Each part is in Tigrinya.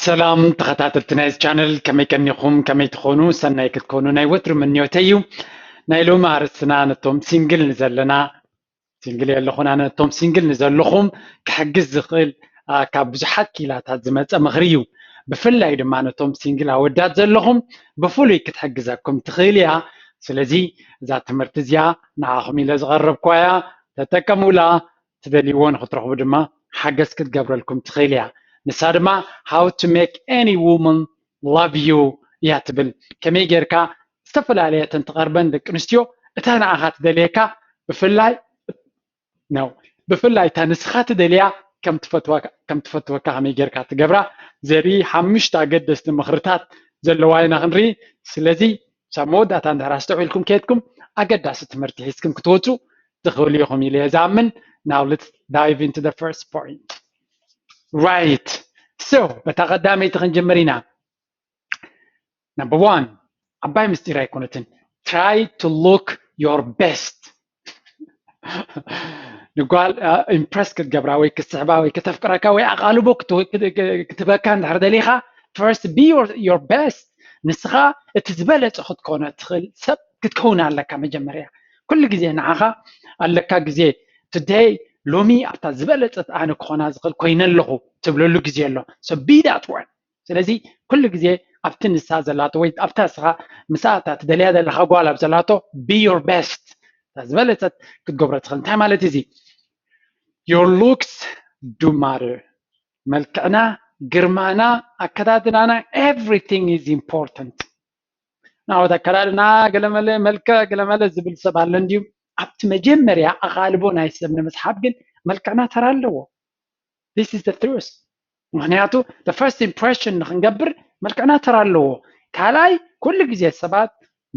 ሰላም ተኸታተልቲ ናይዚ ቻነል ከመይ ቀኒኹም ከመይ ትኾኑ ሰናይ ክትኮኑ ናይ ወትሩ ምንዮተይ እዩ ናይ ሎሚ ኣርእስትና ነቶም ሲንግል ንዘለና ሲንግል የለኹን ኣነ ነቶም ሲንግል ንዘለኹም ክሕግዝ ዝኽእል ካብ ብዙሓት ኪላታት ዝመፀ ምኽሪ እዩ ብፍላይ ድማ ነቶም ሲንግል ኣወዳት ዘለኹም ብፍሉይ ክትሕግዘኩም ትኽእል እያ ስለዚ እዛ ትምህርቲ እዚኣ ንዓኹም ኢለ ዝቐረብኳ እያ ተጠቀሙላ ትደልይዎ ንኽትረኽቡ ድማ ሓገዝ ክትገብረልኩም ትኽእል እያ። ንሳ ድማ How to make any woman love you እያ ትብል። ከመይ ጌርካ ዝተፈላለየ እተን ትቐርበን ደቂ ኣንስትዮ እታ ንዓኻ ትደልየካ ብፍላይ ነው ብፍላይ እታ ንስኻ ትደልያ ከም ትፈትወካ ከመይ ጌርካ ትገብራ ዘርኢ ሓሙሽተ ኣገደስቲ ምኽርታት ዘለዋ ኢና ክንርኢ። ስለዚ ክሳብ መወዳእታ እንድሕር ኣስተውዒልኩም ከይድኩም ኣገዳሲ ትምህርቲ ሒዝኩም ክትወፁ ትኽእሉ ኢኹም ኢለ እየ ዝኣምን ናው ልትስ ዳይቭ ኢንቱ ዘ ፈርስት ፖይንት ራይት ሶ በታ ቀዳመይቲ ክንጅምር ኢና ነምበር ዋን ዓባይ ምስጢር ኣይኮነትን ትራይ ቱ ሉክ ዮር ቤስት ንጓል ኢምፕረስ ክትገብራ ወይ ክትስሕባ ወይ ከተፍቅረካ ወይ ኣቓልቦ ክትበካ እንድሕር ደሊኻ ፈርስት ቢ ዮር ቤስት ንስኻ እቲ ዝበለፀ ክትኮነ ትኽእል ሰብ ክትከውን ኣለካ መጀመርያ ኩሉ ግዜ ንዓኻ ኣለካ ግዜ ቱደይ ሎሚ ኣብታ ዝበለፀት ኣነ ክኾና ዝኽእል ኮይነ ኣለኹ ትብለሉ ግዜ ኣሎ ሶ ቢ ዳት ዋን ስለዚ ኩሉ ግዜ ኣብቲ ንሳ ዘላቶ ወይ ኣብታ ንስኻ ምስኣ እታ ትደልያ ዘለኻ ጓል ኣብ ዘላቶ be your best እታ ዝበለጸት ክትገብሮ ትኽእል እንታይ ማለት እዩ እዚ your looks do matter መልክዕና ግርማና ኣከዳድናና everything is important ናወት ኣከዳድና ገለመለ መልክዕ ገለመለ ዝብል ሰብ ኣሎ እንድዩ ኣብቲ መጀመርያ ኣቓልቦ ናይ ሰብ ንምስሓብ ግን መልክዕና ተራ ኣለዎ this is the truth ምክንያቱ the first impression ንክንገብር መልክዕና ተራ ኣለዎ ካልኣይ ኩሉ ግዜ ሰባት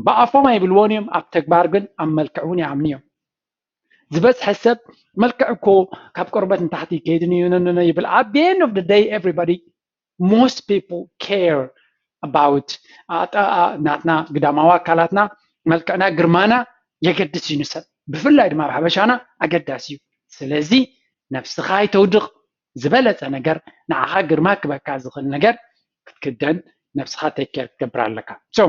ብኣፎም ኣይብልዎን እዮም ኣብ ተግባር ግን ኣብ መልክዕ እውን ይኣምኑ እዮም ዝበዝሐ ሰብ መልክዕ እኮ ካብ ቆርበት ንታሕቲ ከይድን ይብልኣት the end of the day everybody ሞስት ፒፕል ኬር ኣባውት ናትና ግዳማዊ ኣካላትና መልክዕና ግርማና የገድስ እዩ ንሰብ ብፍላይ ድማ ኣብ ሓበሻና ኣገዳሲ እዩ ስለዚ ነብስኻ ኣይተውድቕ ዝበለጸ ነገር ንዓኻ ግርማ ክበካ ዝኽእል ነገር ክትክደን ነብስኻ ቴክ ኬር ክትገብር ኣለካ ሶ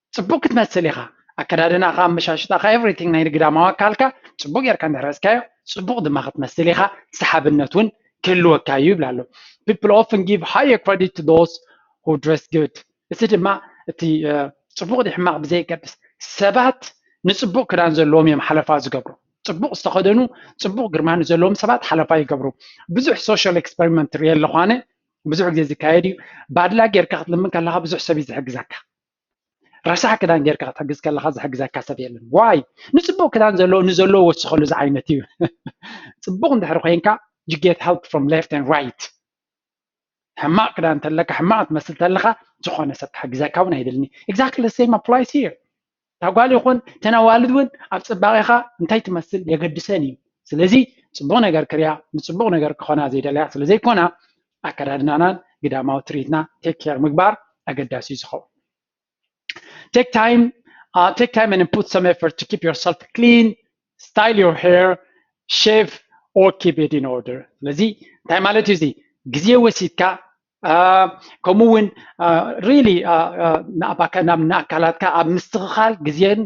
ጽቡቅ ክትመስል ኢኻ ኣከዳድናኻ ኣመሻሽጣኻ ኤቭሪቲንግ ናይ ግዳማዊ ኣካልካ ጽቡቅ ጌርካ እንድሕር ሕዝካዮ ጽቡቅ ድማ ክትመስል ኢኻ ሰሓብነት ውን ክህልወካ እዩ ይብላ ኣሎ people often give higher credit to those who dress good እዚ ድማ እቲ ጽቡቅ ድዩ ሕማቅ ብዘየገድስ ሰባት ንጽቡቅ ክዳን ዘለዎም እዮም ሓለፋ ዝገብሩ ጽቡቅ ዝተኸደኑ ጽቡቅ ግርማ ንዘለዎም ሰባት ሓለፋ ይገብሩ ብዙሕ ሶሻል ኤክስፐሪመንት ሪኤ ኣለኹ ኣነ ብዙሕ ግዜ ዝካየድ እዩ ባድላ ጌርካ ክትልምን ከለኻ ብዙሕ ሰብ እዩ ዝሕግዘካ ረሳሕ ክዳን ጌርካ ክትሕግዝ ከለካ ዝሕግዘካ ሰብ የለን ዋይ ንፅቡቅ ክዳን ዘለዎ ንዘለዎ ወስኸሉ ዝዓይነት እዩ ፅቡቅ እንድሕር ኮንካ you get help from left and right ሕማቅ ክዳን እንተለካ ሕማቅ ትመስል ተለካ ዝኾነ ሰብ ክሕግዘካ እውን ኣይደልኒ exactly the same applies here እታ ጓል ይኹን እተን ኣዋልድ እውን ኣብ ፅባቄኻ እንታይ ትመስል የገድሰን እዩ ስለዚ ፅቡቅ ነገር ክሪያ ንፅቡቅ ነገር ክኾና ዘይደለያ ስለዘይኮና ኣከዳድናናን ግዳማዊ ትርኢትና ቴክ ኬር ምግባር ኣገዳሲ እዩ ዝኸውን ቴክ ታይም ቴክ ታይም ን ፑት ሰም ኤፈርት ቱ ኪፕ ዮርሰልፍ ክሊን ስታይል ዮር ሄር ሼቭ ኦር ኪፕ ኢት ኢን ኦርደር ስለዚ እንታይ ማለት እዩ እዚ ግዜ ወሲድካ ከምኡ እውን ሪሊ ናብ ንኣካላትካ ኣብ ምስትኽኻል ግዜን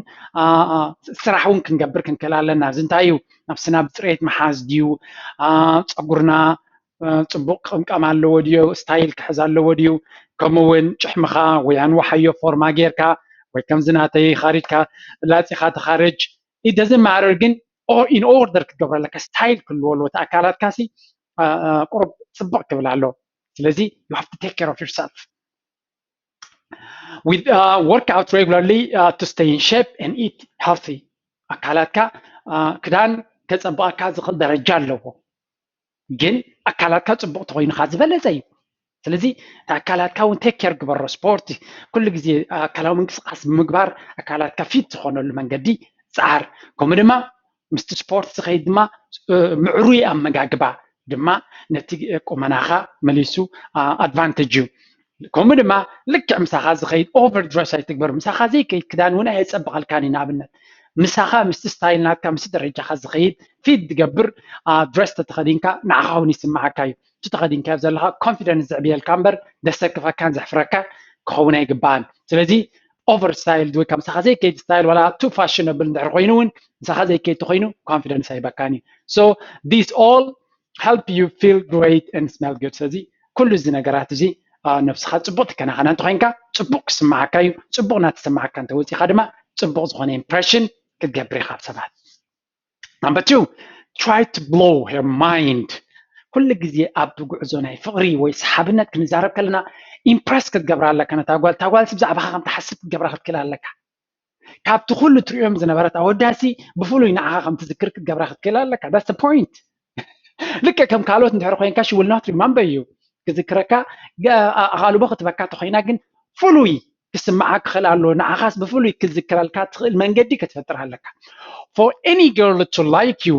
ስራሕ እውን ክንገብር ክንክእል ኣለና እዚ እንታይ እዩ ናብስና ብፅሬት መሓዝ ድዩ ፀጉርና ፅቡቕ ቅምቃም ኣለዎ ድዮ ስታይል ክሕዝ ኣለዎ ድዩ ከምኡ እውን ጭሕምኻ ወይ ኣንዋሓዮ ፎርማ ጌርካ ወይ ከምዚ ናተይ ኻሪድካ ላፂኻ ተኻረጅ ኢት ደዝን ማረር ግን ኢን ኦርደር ክትገብሮ ኣለካ ስታይል ክህልዎ ኣለዎ እቲ ኣካላትካ ሲ ቁሩብ ፅብቕ ክብል ኣለዎ ስለዚ ዩ ሃቭ ቱ ቴክ ኬር ኦፍ ዩርሰልፍ with uh, work out regularly uh, to stay in shape and eat healthy ኣካላትካ ክዳን ከፀብቐካ ዝኽእል ደረጃ ኣለዎ ግን ኣካላትካ ፅቡቅ ተኮይኑ ከዓ ዝበለፀ እዩ ስለዚ ኣካላትካ እውን ቴክ ኬር ግበሮ ስፖርት ኩሉ ግዜ ኣካላዊ ምንቅስቃስ ብምግባር ኣካላትካ ፊት ዝኮነሉ መንገዲ ፀዓር ከምኡ ድማ ምስቲ ስፖርት ዝከይድ ድማ ምዕሩይ ኣመጋግባ ድማ ነቲ ቁመናካ መሊሱ ኣድቫንቴጅ እዩ ከምኡ ድማ ልክዕ ምሳኻ ዝኸይድ ኦቨር ድረስ ኣይትግበር ምሳኻ ዘይከይድ ክዳን እውን ኣየፀብቐልካን እዩ ንኣብነት ምሳኻ ምስቲ ስታይል ናትካ ምስቲ ደረጃኻ ዝኸይድ ፊት ዝገብር ድረስ ተተኸዲንካ ንዓኻ እውን ይስምዓካ እዩ እቲ ተኸዲንካዮ ዘለኻ ኮንፊደንስ ዘዕብየልካ እምበር ዘሰክፈካን ዘሕፍረካን ክኸውን ኣይግባእን ስለዚ ኦቨር ስታይል ወይ ካብ ምሳኻ ዘይከይድ ስታይል ዋላ ቱ ፋሽነብል እንድሕር ኮይኑ እውን ምሳኻ ዘይከይድ ተኮይኑ ኮንፊደንስ ኣይበካን እዩ ሶ ዲስ ኦል help you feel great and smell good ስለዚ ኩሉ እዚ ነገራት እዚ ነብስኻ ፅቡቅ ትከናኸና እንተኮይንካ ፅቡቅ ክስማዓካ እዩ ፅቡቅ እናተሰማዓካ እንተወፂኻ ድማ ፅቡቅ ዝኾነ ኢምፕሬሽን ክትገብር ኢኻ ኣብ ሰባት number two try to blow her mind ኩሉ ግዜ ኣብ ጉዕዞ ናይ ፍቅሪ ወይ ሰሓብነት ክንዛረብ ከለና ኢምፕረስ ክትገብራ ኣለካ ነታ ጓል እታ ጓልሲ ብዛዕባኻ ከም ትሓስብ ክትገብራ ክትክእል ኣለካ ካብቲ ኩሉ ትርእዮም ዝነበረት ኣወዳሲ ብፍሉይ ንዓኻ ከም ትዝክር ክትገብራ ክትክእል ኣለካ ዳስ ፖይንት ልክዕ ከም ካልኦት እንድሕር ኮይንካ ሽውል ናት ሪማምበር እዩ ክዝክረካ ኣቓልቦ ክትበካ ተኮይና ግን ፍሉይ ክስምዓ ክኽእል ኣለዎ ንዓኻስ ብፍሉይ ክዝክረልካ ትኽእል መንገዲ ክትፈጥር ኣለካ for any girl to like you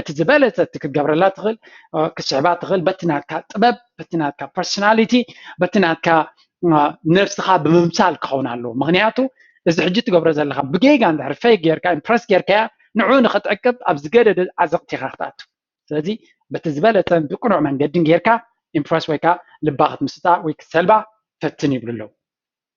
እቲ ዝበለፀ እቲ ክትገብረላ ትኽእል ክትስሕባ ትኽእል በቲ ናትካ ጥበብ በቲ ናትካ ፐርሶናሊቲ በቲ ናትካ ነብስኻ ብምምሳል ክኸውን ኣለዎ ምክንያቱ እዚ ሕጂ ትገብሮ ዘለካ ብጌጋ እንድሕር ፈይ ጌርካ ኢምፕረስ ጌርካያ ንዑ ንክትዕቅብ ኣብ ዝገደደ ዓዘቕቲ ኢኻ ክትኣቱ ስለዚ በቲ ዝበለፀን ብቅኑዕ መንገድን ጌርካ ኢምፕረስ ወይ ከዓ ልባ ክትምስጣ ወይ ክትሰልባ ፈትን ይብሉ ኣለዉ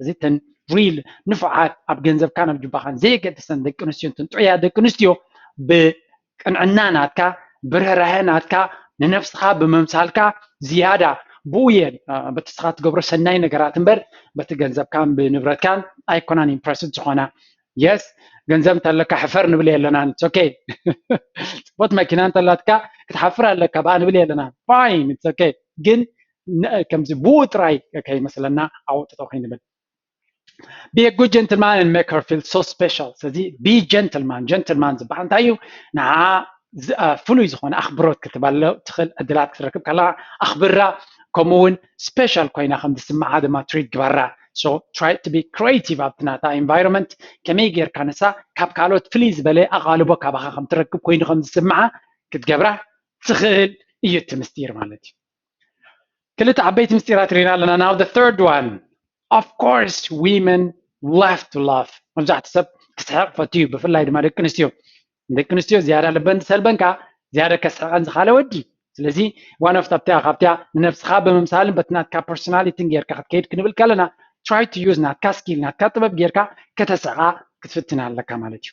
እዚ ተን ሪል ንፉዓት ኣብ ገንዘብካን ኣብ ጁባኻን ዘየገድሰን ደቂ ኣንስትዮ ተን ጥዑያት ደቂ ኣንስትዮ ብቅንዕና ናትካ ብርህራሀ ናትካ ንነብስኻ ብምምሳልካ ዝያዳ ብኡ እየን በቲ ንስኻ ትገብሮ ሰናይ ነገራት እምበር በቲ ገንዘብካን ብንብረትካን ኣይኮናን ኢምፕረስድ ዝኾና የስ ገንዘብ እንተለካ ሕፈር ንብል የለናን ኦኬ ፅቡት መኪና እንተላትካ ክትሓፍር ኣለካ ብኣ ንብል የለናን ፋይን ኦኬ ግን ከምዚ ብኡ ጥራይ ከይመስለና ኣብኡ ጠጠው ከይንብል be a good gentleman and make her feel so special ስለዚ be gentleman gentleman ዝበሃል እንታይ እዩ ንዓ ፍሉይ ዝኾነ ኣኽብሮት ክትበሎ ትኽእል ዕድላት ክትረክብ ከለካ ኣኽብራ ከምኡ እውን ስፔሻል ኮይና ከም ዝስምዓ ድማ ትሪት ግበራ ሶ ትራይ ቱ ቢ ክሬቲቭ ኣብቲ ናታ ኢንቫይሮንመንት ከመይ ጌርካ ንሳ ካብ ካልኦት ፍልይ ዝበለ ኣቓልቦ ካባኻ ከም ትረክብ ኮይኑ ከም ዝስምዓ ክትገብራ ትኽእል እዩ እቲ ምስጢር ማለት እዩ ክልተ ዓበይቲ ምስጢራት ሪኢና ኣለና ናው ዘ ተርድ ዋን ኦፍ ኮርስ ዊመን ላቭ ቱ ላቭ መብዛሕትኡ ሰብ ክስሕቕ ፈቱ እዩ ብፍላይ ድማ ደቂ ኣንስትዮ ደቂ ኣንስትዮ ዝያዳ ልበን ዝሰልበን ከዓ ዝያዳ ከስሕቐን ዝኻለ ወዲ ስለዚ ዋን ኦፍ ኣብቲያ ካብቲያ ንነብስኻ ብምምሳልን በቲ ናትካ ፐርሶናሊቲን ጌርካ ክትከይድ ክንብል ከለና ትራይ ቱ ዩዝ ናትካ ስኪል ናትካ ጥበብ ጌርካ ከተስዕቓ ክትፍትን ኣለካ ማለት እዩ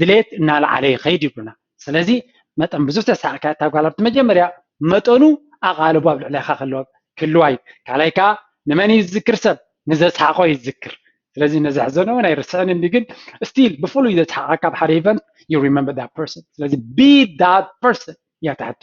ድሌት እናለዓለ ይኸይድ ይብሉና። ስለዚ መጠን ብዙሕ ተሳዕካ እታ ጓል ኣብቲ መጀመርያ መጠኑ ኣቓልቦ ኣብ ልዕሌኻ ክህልዋ እዩ። ካልኣይ ከዓ ንመን እዩ ዝዝክር ሰብ ንዘስሓቆ እዩ ዝዝክር። ስለዚ ነዘሕዘኖ እውን ኣይርስዕን እንዲ ግን ስቲል ብፍሉይ ዘስሓቃካ ኣብ ሓደ ኢቨንት ዩ ሪመምበር ዳት ፐርሰን። ስለዚ ቢ ዳት ፐርሰን እያ እታ ሕቶ።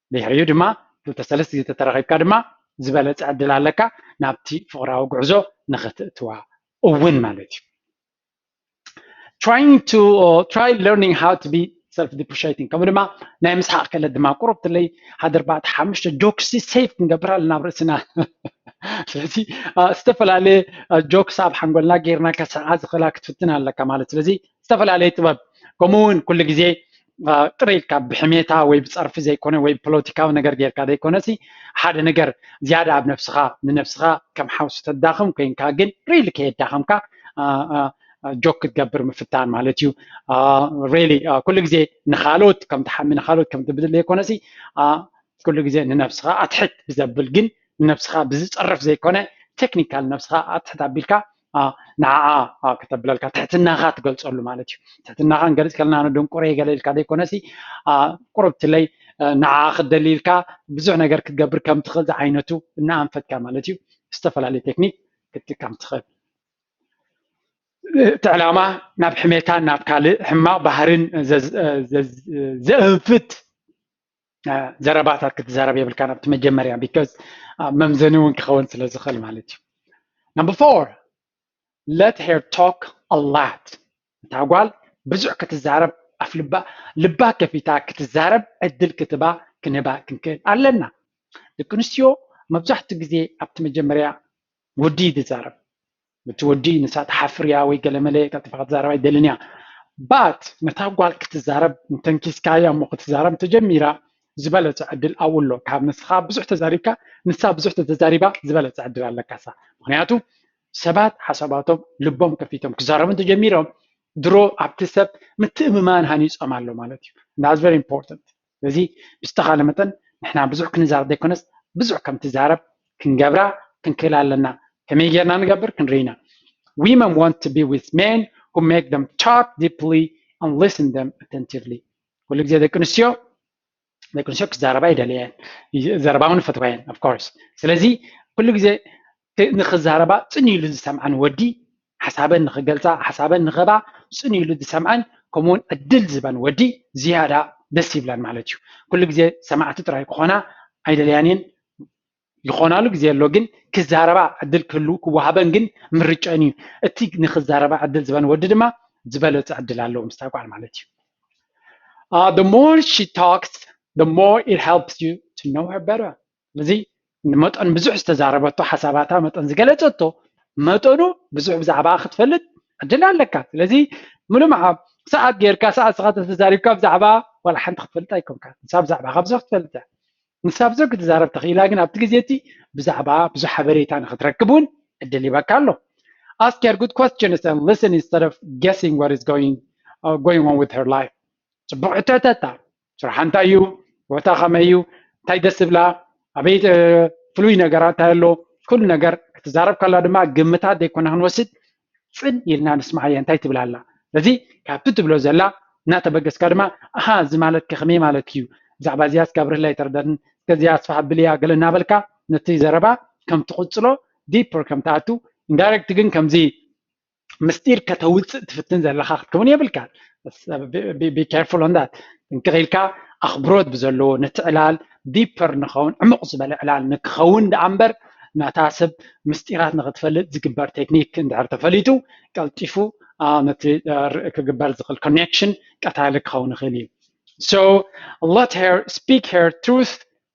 ድሕሪኡ ድማ ክልተ ሰለስት ግዜ ተተራኺብካ ድማ ዝበለጸ ዕድል ኣለካ ናብቲ ፍቕራዊ ጉዕዞ ንኽትእትዋ እውን ማለት እዩ። trying to uh, try learning how to be ሰልፍ ዲፕሪሽቲንግ ከምኡ ድማ ናይ ምስሓቅ ክእለት ድማ ቁሩብ ትለይ ሓደ ኣርባዕተ ሓሙሽተ ጆክስ ሴፍ ክንገብር ኣለና ኣብ ርእስና ስለዚ ዝተፈላለየ ጆክስ ኣብ ሓንጎልና ጌርና ከስሓ ዝኽእላ ክትፍትን ኣለካ ማለት ስለዚ ዝተፈላለየ ጥበብ ከምኡ እውን ኩሉ ግዜ ጥረ ኢልካ ብሕሜታ ወይ ብፀርፊ ዘይኮነ ወይ ፖለቲካዊ ነገር ጌርካ ዘይኮነሲ ሓደ ነገር ዝያዳ ኣብ ነብስኻ ንነብስኻ ከም ሓውሲ ተዳኽም ኮይንካ ግን ሪሊ ከየዳኸምካ ጆክ ክትገብር ምፍታን ማለት እዩ ሪሊ ኩሉ ግዜ ንካልኦት ከም ትሓሚ ንካልኦት ከም ትብድል ዘይኮነሲ ኩሉ ግዜ ንነብስኻ ኣትሕት ብዘብል ግን ንነብስኻ ብዝፀርፍ ዘይኮነ ቴክኒካል ነብስኻ ኣትሕት ኣቢልካ ንዓኣ ከተብለልካ ትሕትናኻ ትገልፀሉ ማለት እዩ ትሕትናኻ ንገልፅ ከለና ንድንቁረ ገለ ኢልካ ዘይኮነሲ ቁርብትለይ ንዓኣ ክትደሊ ኢልካ ብዙሕ ነገር ክትገብር ከም ትኽእል ዝዓይነቱ እናኣንፈትካ ማለት እዩ ዝተፈላለዩ ቴክኒክ ክትጥቀም ትኽእል እቲ ዕላማ ናብ ሕሜታን ናብ ካልእ ሕማቕ ባህርን ዘእንፍት ዘረባታት ክትዛረብ የብልካ ናብቲ መጀመርያ ቢካዝ መምዘኒ እውን ክኸውን ስለ ዝኽእል ማለት እዩ ነምበር ፎር ለት ሄር ቶክ ኣላት እታ ጓል ብዙሕ ክትዛረብ ኣፍ ልባ ልባ ከፊታ ክትዛረብ ዕድል ክትባ ክንባ ክንክእል ኣለና ደቂ ኣንስትዮ መብዛሕትኡ ግዜ ኣብቲ መጀመርያ ወዲ ይዛረብ ነቲ ወዲ ንሳ ትሓፍር እያ ወይ ገለመለ ቀልጢፋ ክትዛረብ ኣይትደልን እያ but ነታ ጓል ክትዛረብ እንተንኪስካያ እሞ ክትዛረብ እንተጀሚራ ዝበለጸ ዕድል ኣብኡ ኣሎ ካብ ንስኻ ብዙሕ ተዛሪብካ ንሳ ብዙሕ ተተዛሪባ ዝበለጸ ዕድል ኣለካሳ ምክንያቱ ሰባት ሓሳባቶም ልቦም ከፊቶም ክዛረቡ እንተጀሚሮም ድሮ ኣብቲ ሰብ ምትእምማን ሃኒጾም ኣሎ ማለት እዩ that's very important ስለዚ ብዝተኻለ መጠን ንሕና ብዙሕ ክንዛረብ ዘይኮነስ ብዙሕ ከም ትዛረብ ክንገብራ ክንክእል ኣለና ከመይ ጌርና ንገብር ክንርኢ ኢና women want to be with men who make them talk deeply and listen them attentively ኩሉ ግዜ ደቂ ኣንስትዮ ደቂ ኣንስትዮ ክዛረባ ይደልያ እየን ዘረባ እውን ይፈትዋ እየን ኦፍኮርስ ስለዚ ኩሉ ግዜ ንኽዛረባ ጽን ኢሉ ዝሰምዐን ወዲ፣ ሓሳበን ንኽገልጻ ሓሳበን ንኽህባ ጽን ኢሉ ዝሰምዐን ከምኡውን ዕድል ዝህበን ወዲ ዝያዳ ደስ ይብለን ማለት እዩ። ኩሉ ግዜ ሰማዕቲ ጥራይ ክኾና ኣይደልያን እየን፣ ይኾናሉ ግዜ ኣሎ ግን ክዛረባ ዕድል ክህሉ ክወሃበን ግን ምርጨን እዩ። እቲ ንኽዛረባ ዕድል ዝበን ወዲ ድማ ዝበለጸ ዕድል ኣለዎ ምስታ ጓል ማለት እዩ። Uh, the more she talks, the more it helps you to know her better. ስለዚ ንመጠን ብዙሕ ዝተዛረበቶ ሓሳባታ መጠን ዝገለፀቶ መጠኑ ብዙሕ ብዛዕባኣ ክትፈልጥ ዕድል ኣለካ ስለዚ ሙሉ መዓብ ሰዓት ጌርካ ሰዓት ንስኻ ተተዛሪብካ ብዛዕባ ዋላ ሓንቲ ክትፈልጥ ኣይኮንካ ንሳ ብዛዕባ ካብ ብዙሕ ክትፈልጥ እያ ንሳ ብዙሕ ክትዛረብ ተኽኢላ ግን ኣብቲ ግዜ እቲ ብዛዕባ ብዙሕ ሓበሬታ ንክትረክብ እውን ዕድል ይበካ ኣሎ ask her good questions and listen instead of guessing what is going uh, going on with her life ጽቡቅ ሕቶ ሕተታ ስራሓ እንታይ እዩ፣ ሂወታ ከመይ እዩ፣ እንታይ ደስ ዝብላ፣ ኣበይ ፍሉይ ነገራት እንታይ ኣሎ፣ ኩሉ ነገር ክትዛረብ ከላ ድማ ግምታት ዘይኮና ክንወስድ ፅን ኢልና ንስምዓያ እንታይ ትብል ኣላ። ስለዚ ካብቲ ትብሎ ዘላ እናተበገስካ ድማ ኣሃ እዚ ማለት ከከመይ ማለት እዩ፣ ብዛዕባ እዚኣ እስኪ ኣብርህለይ ኣይተረዳእን፣ እስከ እዚኣ ኣስፍሕ ኣብልያ ገለ እናበልካ ነቲ ዘረባ ከም ትቕፅሎ ዲፐር ከም ትኣቱ ኢንዳይሬክት ግን ከምዚ ምስጢር ከተውፅእ ትፍትን ዘለካ ክትከውን የብልካን ቢካርፉል ኦን ዳት ጥንቅቅ ኢልካ ኣኽብሮት ብዘለዎ ነቲ ዕላል ዲፐር ንኸውን ዕሙቕ ዝበለ ዕላል ንክኸውን ደኣ እምበር ናታ ሰብ ምስጢራት ንክትፈልጥ ዝግበር ቴክኒክ እንድሕር ተፈሊጡ ቀልጢፉ ነቲ ክግበር ዝኽእል ኮኔክሽን ቀታሊ ክኸውን ይኽእል እዩ so let her speak her truth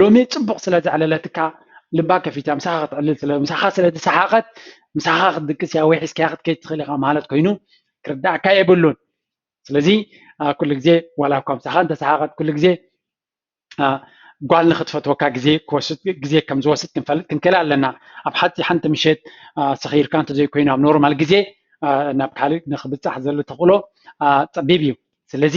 ሎሚ ፅቡቅ ስለ ዘዕለለትካ ልባ ከፊታ ምሳካ ክትዕልል ስለ ምሳካ ስለ ዝሰሓቀት ምሳካ ክትድቅስ እያ ወይ ሒዝካያ ክትከይድ ትኽእል ኢካ ማለት ኮይኑ ክርዳእካ የብሉን ስለዚ ኩሉ ግዜ ዋላ እኳ ምሳካ እንተሰሓቀት ኩሉ ግዜ ጓል ንክትፈትወካ ግዜ ክወስድ ግዜ ከም ዝወስድ ክንፈልጥ ክንክእል ኣለና ኣብ ሓቲ ሓንቲ ምሸት ሰኺርካ እንተዘይኮይኑ ኣብ ኖርማል ግዜ ናብ ካልእ ንክብፃሕ ዘሎ ተኽእሎ ፀቢብ እዩ ስለዚ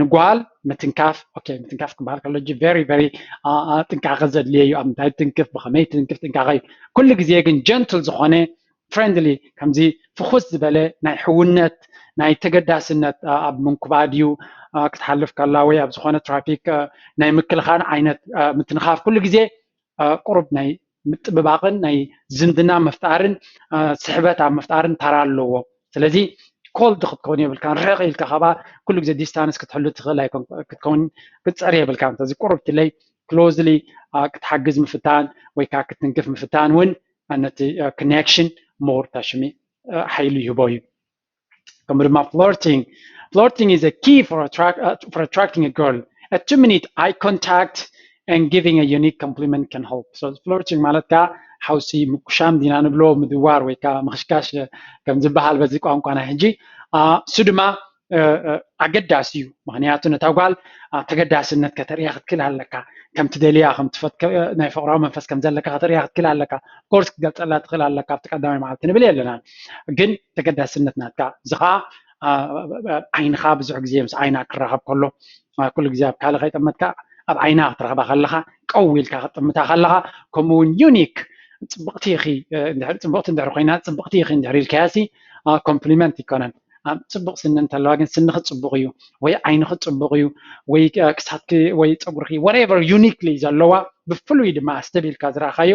ንጓል ምትንካፍ ኦኬ ምትንካፍ ክበሃል ከሎ ጂ ቨሪ ቨሪ ጥንቃቐ ዘድልየ እዩ ኣብ ምንታይ ትንክፍ ብኸመይ ትንክፍ ጥንቃቐ እዩ ኩሉ ግዜ ግን ጀንትል ዝኾነ ፍሬንድሊ ከምዚ ፍኹስ ዝበለ ናይ ሕውነት ናይ ተገዳስነት ኣብ ምንኩባድ እዩ ክትሓልፍ ከላ ወይ ኣብ ዝኾነ ትራፊክ ናይ ምክልኻል ዓይነት ምትንኻፍ ኩሉ ግዜ ቁሩብ ናይ ምጥብባቕን ናይ ዝምድና ምፍጣርን ስሕበት ኣብ ምፍጣርን ተራ ኣለዎ ስለዚ ኮልድ ክትከውን የብልካን ርሕቕ ኢልካ ካባኣ ኩሉ ግዜ ዲስታንስ ክትሕሉ ትኽእል ኣይኮን ክትከውን ክትፅዕር የብልካን ስለዚ ቁሩብ ትለይ ክሎዝሊ ክትሓግዝ ምፍታን ወይ ከዓ ክትንክፍ ምፍታን እውን ነቲ ኮኔክሽን ሞር ተሽሚ ሓይሉ ይህቦ እዩ ከምኡ ድማ ፍሎርቲንግ ፍሎርቲንግ ኢዝ ኪ ፎር ኣትራክቲንግ አ ገርል አ ቱ ሚኒት ኣይ ኮንታክት ን ጊቪንግ አ ዩኒክ ኮምፕሊመንት ካን ሄልፕ ሶ ፍሎርቲንግ ማለት ከዓ ሓውሲ ምቁሻም ዲና ንብሎ ምድዋር ወይ ከዓ ምኽሽካሽ ከም ዝበሃል በዚ ቋንቋ ናይ ሕጂ እሱ ድማ ኣገዳሲ እዩ ምክንያቱ ነታ ጓል ተገዳስነት ከተርእያ ክትክእል ኣለካ ከምቲ ደልያ ናይ ፍቅራዊ መንፈስ ከም ዘለካ ከተርእያ ክትክእል ኣለካ ኮርስ ክትገልፀላ ትኽእል ኣለካ ኣብቲ ቀዳማይ መዓልቲ ንብል የለና ግን ተገዳስነት ናትካ እዚ ከዓ ዓይንኻ ብዙሕ ግዜ ምስ ዓይና ክራኸብ ከሎ ኩሉ ግዜ ኣብ ካልእ ከይጠመትካ ኣብ ዓይና ክትረኽባ ከለኻ ቀው ኢልካ ክትጥምታ ከለኻ ከምኡ እውን ዩኒክ ፅብቕቲ ኢኺ ፅብቕቲ እንድሕር ኮይና ፅብቕቲ ኢኺ እንድሕር ኢልካያሲ ኮምፕሊመንት ይኮነን ፅቡቕ ስኒ እንተለዋ ግን ስንኺ ፅቡቕ እዩ ወይ ዓይንኺ ፅቡቕ እዩ ወይ ክሳትኪ ወይ ፀጉርኪ ወሬቨር ዩኒክሊ ዘለዋ ብፍሉይ ድማ ኣስተብሂልካ ዝረእኻዮ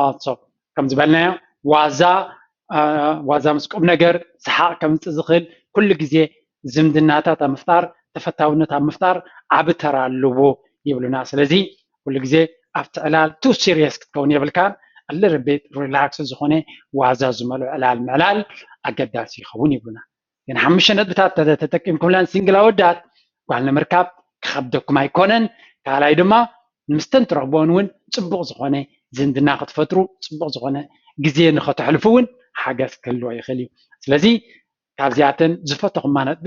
ኣቶ ከም ዝበልናዮ ዋዛ ዋዛ ምስ ቁም ነገር ሰሓቕ ከምፅእ ዝኽእል ኩሉ ግዜ ዝምድናታት ኣብ ምፍጣር ተፈታውነት ኣብ ምፍጣር ዓብ ተራ ኣለዎ ይብሉና ስለዚ ኩሉ ግዜ ኣብቲ ዕላል ቱ ሲሪየስ ክትከውን የብልካን ኣልርቤት ሪላክስ ዝኾነ ዋዛ ዝመልኦ ዕላል ምዕላል ኣገዳሲ ይኸውን ይብሉና። ግን ሓሙሽተ ነጥብታት ተተጠቂምኩምለን ሲንግል ኣወዳት ጓል ንምርካብ ክኸብደኩም ኣይኮነን ካልኣይ ድማ ምስተን ትረኽቦን እውን ፅቡቕ ዝኾነ ዝምድና ክትፈጥሩ ፅቡቕ ዝኾነ ግዜ ንኸተሕልፉ እውን ሓገዝ ክህልዎ ይኽእል እዩ ስለዚ ካብዚኣተን ዝፈተኹማ ነጥቢ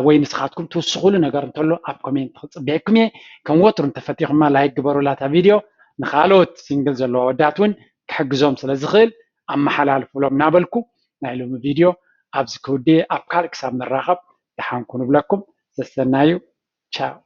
ወይ ንስኻትኩም ትውስኹሉ ነገር እንተሎ ኣብ ኮሜንት ክፅበየኩም እየ ከም ወትሩ እንተፈቲኹማ ላይክ ግበሩላ እታ ቪድዮ ንካልኦት ሲንግል ዘለዎ ኣወዳት እውን ክሕግዞም ስለ ዝኽእል ኣመሓላልፉሎም እናበልኩ ናይ ሎሚ ቪድዮ ኣብዚ ክውድእ'የ ኣብ ካልእ ክሳብ ንራኸብ ደሓን ኩኑ እብለኩም ሰሰናዩ ቻው።